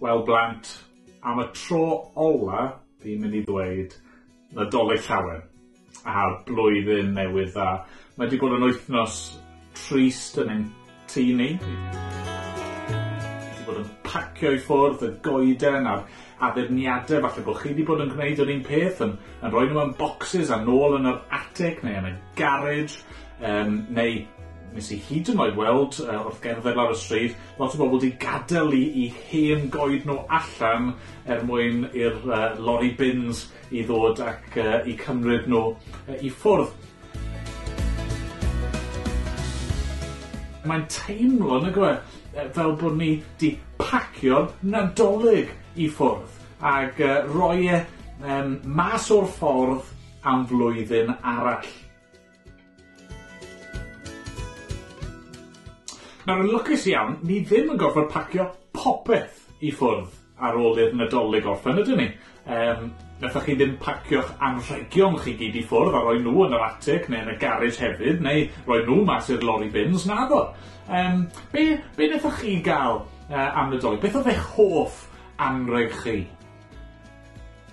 Wel blant, am y tro ola fi'n mynd i ddweud Nadolig Llawen a Blwyddyn Newydd Dda. Mae 'di bod yn wythnos trist yn ein Tŷ ni. Wedi bod yn pacio i ffwrdd y goeden a'r addurniadau, falle bod chi wedi bod yn gwneud yr un peth, yn, yn rhoi nhw yn boxes a nôl yn yr attic neu yn y garage, um, neu nes i hyd yn oed weld uh, wrth gerdded lawr y stryd, lot o bobl wedi gadael i, i hen goed nhw allan er mwyn i'r uh, lorry bins i ddod ac yy 'u cymryd nhw yy i ffwrdd. Mae'n teimlo nag yw e yy fel bod ni 'di pacio'r Nadolig i ffwrdd ag yy roi e yym mas o'r ffordd am flwyddyn arall. Nawr yn lwcus iawn, ni ddim yn gorfod pacio popeth i ffwrdd ar ôl i'r Nadolig orffen, ydyn ni? Yym, nathoch chi ddim pacio'ch anrhegion chi gyd i ffwrdd a roi nhw yn yr atig neu yn y garej hefyd, neu roi nhw mas i'r lori bins, naddo? Yym, be' be' nethoch chi ga'l yy am Nadolig? Beth o'dd eich hoff anreg chi?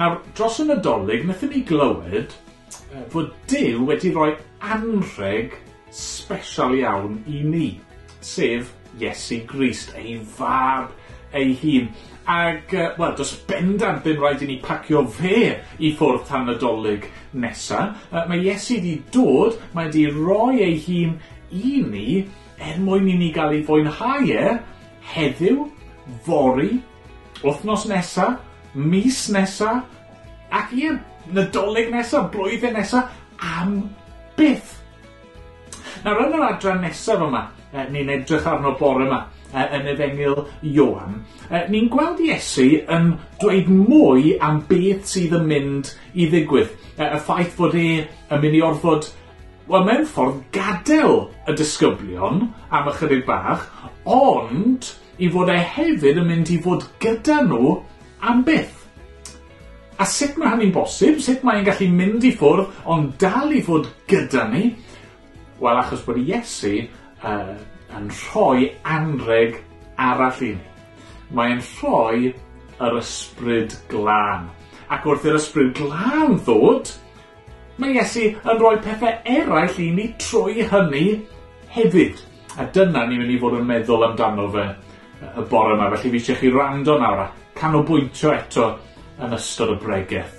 Nawr, dros y Nadolig, wnaethon ni glywed fod Duw wedi rhoi anrheg special iawn i ni, sef Iesu Grist, ei fab ei hun. Ac, uh, wel, does bendant ddim rhaid i ni pacio fe i ffwrdd tan nadolig nesa. Uh, mae Iesu wedi dod, mae wedi roi ei hun i ni er mwyn i ni gael ei fwynhau e heddiw, fori Wythnos nesa, mis nesa, ac ie, Nadolig nesa, blwyddyn nesa, am byth. Nawr yn yr adran nesaf yma, e, ni'n edrych arno bore yma, e, yn efengyl Ioan, e, ni'n gweld Iesu yn dweud mwy am beth sydd yn mynd i ddigwydd. E, y ffaith fod e yn mynd i orfod Wel, mewn ffordd gadael y disgyblion am ychydig bach, ond I fod e hefyd yn mynd i fod gyda nhw am byth. A sut mae hynny'n bosib? Sut mae'n gallu mynd i ffwrdd ond dal i fod gyda ni? Wel, achos bod Iesu uh, yn rhoi anreg arall i ni. Mae'n rhoi yr ysbryd glân. Ac wrth i'r ysbryd glân ddod, mae Iesu yn rhoi pethau eraill i ni trwy hynny hefyd. A dyna ni mynd i fod yn meddwl amdano fe y bore yma. Felly fi eisiau chi rando nawr a canolbwyntio eto yn ystod y bregeth.